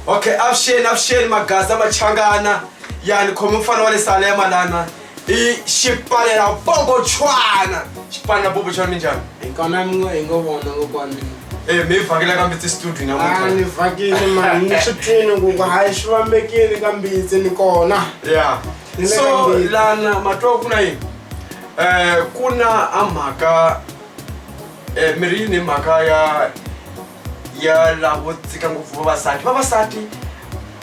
okay avuxeni avuxeni magaza machangana yani khome mfana wa le salema lana i xipalela bobochwana xipalela bobochwana minjhani Hikona mi ngo hi ngo vona kokwana. e mi vhakela ka mbitsi studio Ah namuntlha ni vhakile mani ni swi twini ku ku hayi swi vambekile ka mbitsi ni kona. ya Ni le so ka mbitsi. lana matwa ku na yini um ku na a mhaka Eh, mi ri yini mhaka ya ya lavo dzika ngopfu vavasati vavasati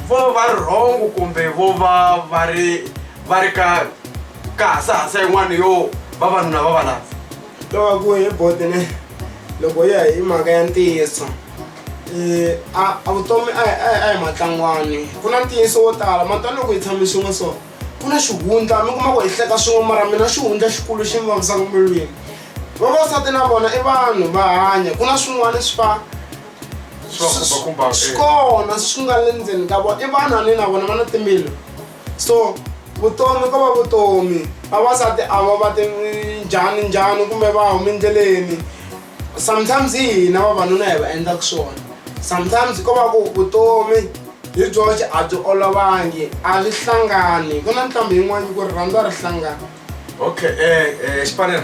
vo va ri rhongo kumbe vo va va ri va ri ka ka hasahasa yin'wana yo vavanuna va va lava loko ku hi bodene loko ya hi mhaka ya ntiyiso Eh, a a vutomi a hi- a hi- a hi matlangwani ku na ntiyiso wo tala matani loko hi tshame swin'we so ku na xihundla mi kuma ku hi hleka swin'we mara mina xihundla xikulu xi mi vavisaka milwini vavasati na vona i vanhu va hanya ku na swin'wana swi fa swi kona swi nga le ndzeni ka vona i vanhu ani na vona va na timbilu so vutomi ko va vutomi vavasati a va va ti njhani njhani kumbe va humi endleleni sometimes hi hina vavanuna hi va endlaka swona sometimes ko va ku vutomi hi byoxe a byi olovangi a byi hlangani ku na ntlhambi yin'wana ku ri rhandza ri hlangana okay um xipanela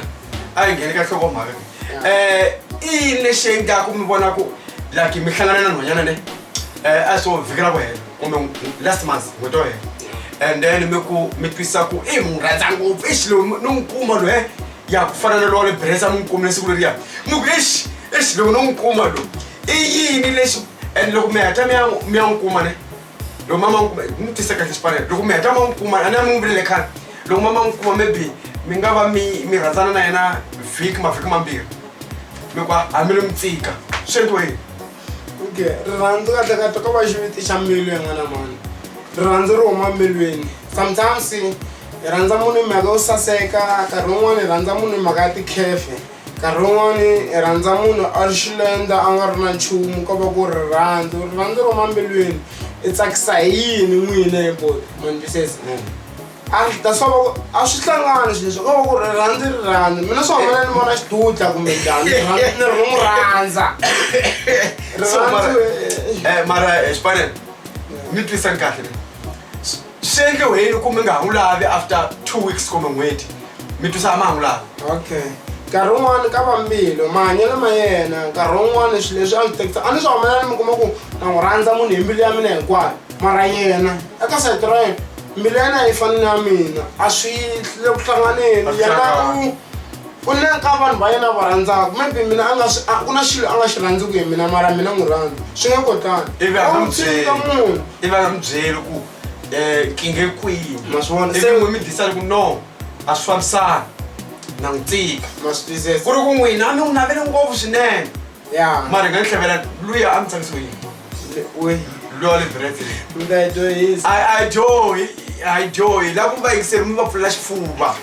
a hi ngheni ka nhlokomhaka um eh, i yini lexi endlaku mi vona ku like mi hlangana na nhwanyana ne um a swo vhikela ku hela kumbe last month n'hweti yo hela and then mi ku mi twisisa ku i n'wi rhandza ngopfu i xilo ni n'wi kuma loyi ya ku fana na lowa le bresa mi n'wi kumile siku leriya mi ku exi exi loko no n'wi kuma lo i yini lexi and loko mi heta mi ya mi ya n'wi kuma ne loko mama n'wi kuma n'wi tisa kahle xipanela loko mi heta ma n'wi kuma a ni a mi n'wi vilele khale loko mama n'wi kuma maybe mi nga va mi mi rhandzana na yena vhiki mavhiki mambirhi mi ku a mi lo mi tsika swi endliwa yini okay rirhandzu kahlekahle ko va xiviti xa mbilu yin'wana mani rirhandzu ri huma mbilwini sometimes hi rhandza munhu hi mhaka yo saseka nkarhi wun'wani hi rhandza munhu hi mhaka ya tikhefe nkarhi wun'wani hi rhandza munhu a ri xilenda a nga ri na nchumu ko va ku rirhandzu rirhandzu ri huma mbilwini i tsakisa hi yini n'wina hi ku ma ni twisisa a ndzi ta swa va a swi hlangani swi leswi ko va ku ri rhandzi ri rhandzi mina swa hambana ni vona xidudla kumbe njhani ni rhandzi ni ri n'wi rhandza So, mara- rirhandzi eh, mara eh, xipanela mi twisani kahle le Swi- swi endliwe yini ku mi nga ha n'wi lavi after two weeks kumbe n'hweti mi twisa a ma ha n'wi lavi okay nkarhi wun'wani ka vambilo mahanyelo ma yena nkarhi wun'wani swilo leswi a swi tekisa a ni swi humelela ni mi kuma ku na n'wi rhandza munhu hi mbilu ya mina hinkwayo mara yena eka side ra yena mbilu ya yena a yi fani na mina a swi le ku hlanganeni A swi yena hlangani. u u na ka vanhu va yena a va rhandzaka maybe mina a nga swi- a- ku na xilo a nga xi rhandzi ku hi mina mara mina n'wi rhandza swi nge kotani Ivi a nga n'wi byeli. ka munhu i va nga mi byeli ku um kinge kwihi Ma swi vona. ivi Se- n'wi mi disani ku no a swi fambisani na n'wi tika masitizese ku ri ku n'wina a mi n'wi navele ngopfu swinene mara hi nga tlhavela luya a mi tsakisiwe yini luya wa le brete ajohi ajohi la ku va yingiseri mi va pfulela xifuva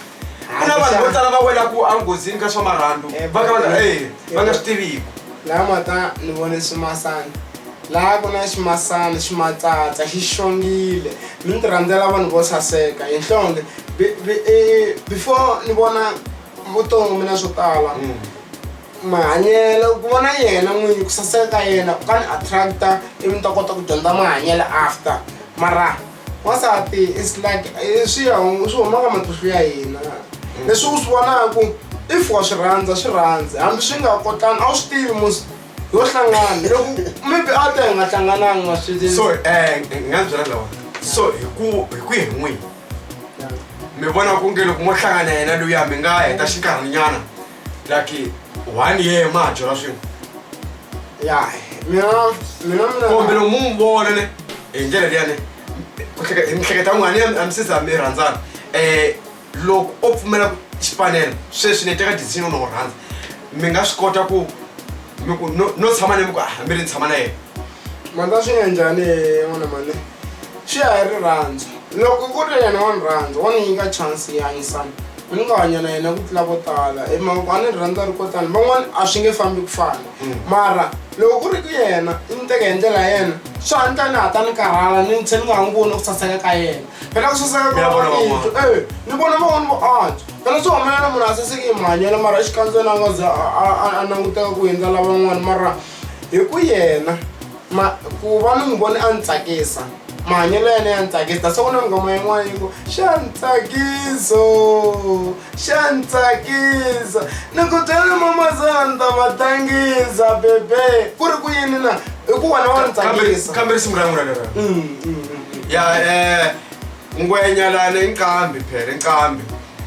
ku na vanhu vo tala va welaku enghozini ka swa marhandu eh, va ka va nga eh, eh, swi tiviki laha mata ni vone swimasana laha ku na ximasana ximatsatsa xi xongile mi ni ti rhandzela vanhu vo saseka hi nhlonge before ni vona vutomi na swo tala mm. mahanyelo ku vona yena n'winyi ku saseka ka yena ku ka ni attracta ivi ni ta kota ku dyondza mahanyelo after mara wansati is like eh, swi ya swi huma ka matihlo ya hina leswi u swi vonaku if wa swi rhandza swi rhandzi hambi swi nga kotani a wu swi tivi musi yo hlangana loko maybe a ta hi nga hlangananga swi so eh nga byela lawa so hi ku hi ku hi n'wini mi vona ku nge loko mo hlangana yena luya mi nga heta xinkarhinyana lucky one year ma ha dyora swin'we ya mina mina kumbe mina lomu mu vona ne hi ndlela liya ne ku hleke- hi mihleketa n'wani ya mi sisa mi rhandzana um loko o pfumela ku xipanela sweswi ni teka decision yo no n'wi rhandza mi nga swi kota ku mi ku no no tshama ni mi ku ah mi ri ni tshama na yena manda swi nga njhani n'wana mane swi ya hi rirhandzu loko ku ri yena wa ni rhandza wa ni nyika chance yi hanyisana Ni nga hanya na yena ku tlula vo tala hi mhaka ku a ni ri rhandza ri ko tala van'wana a swi nge fambi ku fana mara loko ku ri ku yena i ni teka hi ndlela ya yena swi hatla ni hatla ni karhala ni ni tlhe ni nga ha n'wi voni ku saseka ka yena phela ku saseka ka Mi ya vona van'wana van'wana. yitwa e ni vona van'wana vo antswa phela swi humelela munhu a saseke hi mahanyelo mara exikandzeni a nga ze a- a a- a languteka ku hundza lavan'wana mara hi ku yena ma ku va ni n'wi vone a ni tsakisa mahanyelo ya yena ya ni tsakisa that's why ku na nghoma yin'wana yi ku xa ni tsakiso xa ni tsakisa ni ku byela mamazana ni ta va tangisa bebe ku ri ku yini na i ku wena wa ni tsakisa kambe risimu ra n'wina lera Mm, mm, mm, mm. ya um ngwenyalana inqambi phela inqambi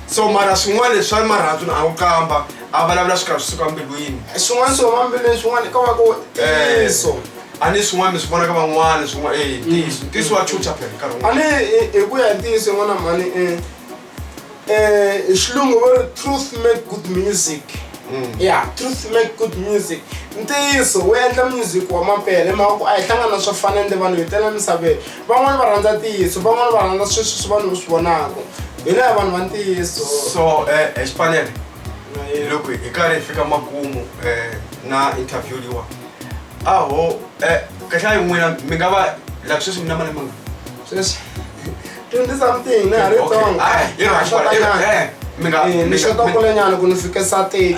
so mara swin'wana leswi swa marhandzu na a wu qamba a vulavula swi karhi swi suka mbilwini swin'wana swi huma mbilwini swin'wana ka va ku ntiyiso a ni swin'wana mi swi vona ka van'wana swin'wana e ntiyiso ntiyiso wa chucha phela nkarhi a wun'wana ni hi- hi ku ya hi ntiyiso yin'wana mhani um hi xilungu va ri truth make good music ya truth make good music ntiyiso wu endla music wa mapele hi mhaka ku a hi hlangana swo fana ende vanhu hi tela misaveni van'wana va rhandza ntiyiso van'wana va rhandza sweswi swi vanhu swi vonaka hi laya vanhu va ntiyiso so um xi fanele hi loko hi karhi hi fika makumu um na interview liwa aho um kahlaya hi n'wina mi nga va like sweswi mi na malembe mangani sweswi twenty something na ha ri tsongo mi nga mi xota kulenyana ku ni fikisa thirty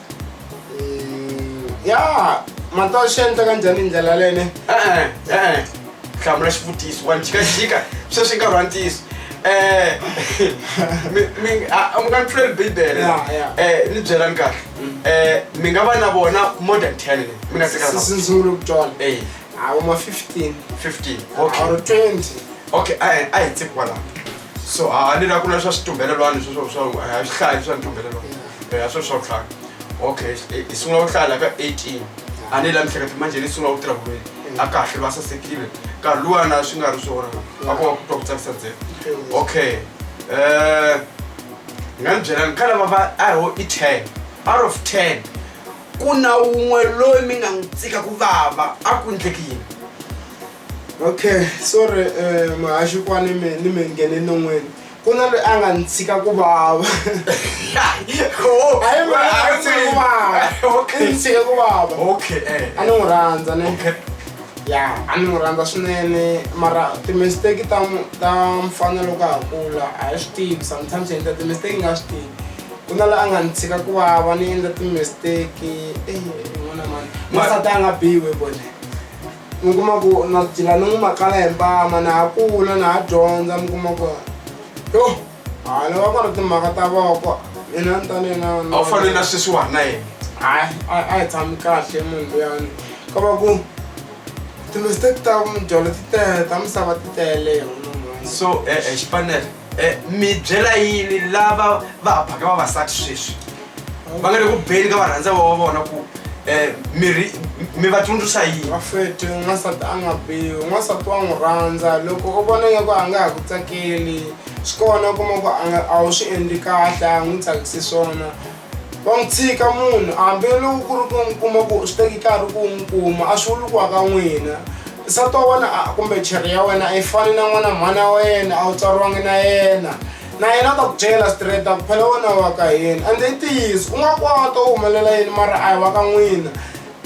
ya mantwa swi endla ka njhani hi ndlela lene e-e e-e hlamula xivutiso wa njhikajhika sweswi nkarhi wa ntiyiso um mi nga ni pfuleli bibele Ya, ya. um ni byelani kahle um mi nga va na vona more than ten ni mi nga tekana sisi ni sungule ku twana e a wu ma 15 fifteen or okay 20 okay a hi- a hi tsi kwalaho so a ni la ku na swa switumbelelwani sweswo swa a hi swi hlayi swa ntumbelelwani ya swo swa tlhaka okay i sungula ku hlaya ka 18 a ni la mihleketa manje ni sungula ku tirha ku a kahle va sasekile nkarhi luwana swi nga ri swona a ku va ku twa ku tsakisa ntsena okay um ni nga ni byela ni ka lava va a ho i ten out of ten ku na wun'we loyi mi nga n'wi tsika ku vava a ku endleki yini okay sorry um muhaxi kwa ni mi ni mi nghene non'weni ku na loyi a nga ni tshika ku vava a yi ma a yi tshika ku vava i ni tshika ku vava okay eh a ni n'wi rhandza ne okay ya a ni n'wi rhandza swinene mara timisteki ta mu- ta mfana loko a ha kula a hi swi tivi sometimes hi endla timisteki hi nga swi tivi ku na la a nga ni tshika ku vava ni endla timisteki eyi n'wana mani n'wansati a nga biwi bone mi kuma ku na dyila ni n'wi makala hi mpama na ha kula na ha dyondza mi kuma ku yo hala va nga ri timhaka ta voko mina ni ta ni na a wu fanele na sweswiwani na yena hayi a a hi tshami kahle munhu luyani ka va ku timistake ta mudyolo ti tele ta misava ti tele hi wona mhani. so eh, eh, xipanele Eh, mi byela yini lava va hambaka vavasati sweswi va nga le ku beni ka varhandza va wa vona ku eh, miri mi va tsundzuxa yini vafeti n'wansati a nga bihi n'wansati wa n'wi rhandza loko u vona nga ku a nga ha ku tsakeli swi kona kuma ku a nga- a wu swi endli kahle a n'wi tsakisi swona wa n'wi tshika munhu hambiloko ku ri ku n'wi kuma ku swi teki nkarhi ku n'wi kuma a swi vuli ku aka n'wina nsati wa wena kumbe cheri ya wena a yi fani na n'wana mhani ya wena a wu tswariwangi na yena na yena a ta ku byela straight a ku phela wena wa ka yena ende i ntiyiso u nga kota u humelela yini mara a hi wa ka n'wina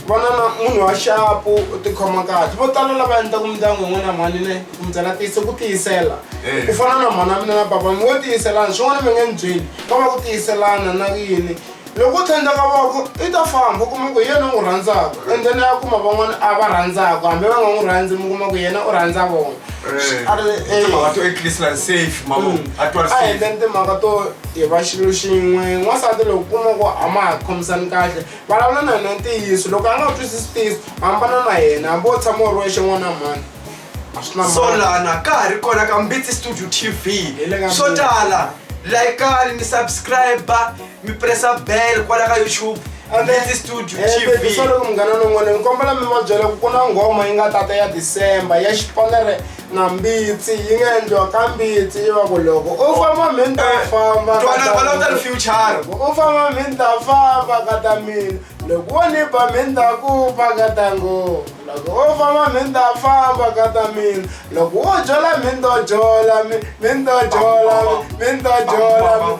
Vana na munhu wa xapu u tikhoma kahle vo tala lava endlaku mindyangu yin'wana ya mhani ne kumbyela tiyise ku tiyisela eh. ku fana na mhana mina na baba mi wo tiyiselana swin'wana mi nge ni byeli va va ku tiyiselana na yini loko u thandza ka voko i ta famba u kuma ku hi yena u n'wi rhandzaka and then ya kuma van'wana a va rhandzaka hambi va nga n'wi rhandzi mi kuma ku yena u rhandza vona aendleni timhaka to hi va xilo xin'we n'wansati loko kuma ku a ma ha khomisani kahle vulavula na yena ntiyiso loko a nga twisisi ntiyiso hambana na yena hambi wo tshama u ri wexe n'wana mhani a swi na mhaka. solana ka ha ri kona ka mbitsi studio tv Hi le ka swo Mbitsi. tala laikani mi subscriber mi pressa bell kwala ka youtube mbitsi studio tv solo munghana lowun'wana ni kombela mi va byela ku ku na nghoma yi nga tata ya december ya xipanere na mbitsi yi nga endliwa ka mbitsi yi va ku loko u famba mi ni ta eh, famba u famba mi ni ta famba ka ta mina loko wo ni ba mi ni ta ku ba ka ta ngoma loko wo famba mi ni ta famba ka ta mina loko wo jola mi ni to jola mi ni to jola mi ni to jola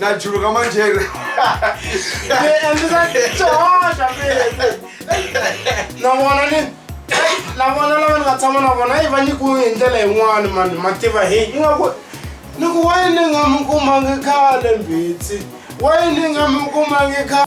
najuluka manjere navona ni navona lava ni nga tshama na vona yi va nyikiwu hi ndlela yin'wani mani ma tiva hi ingaku ni ku wa yini nga mi kumangi khale mbitsi wa yini nga mi kumangi khale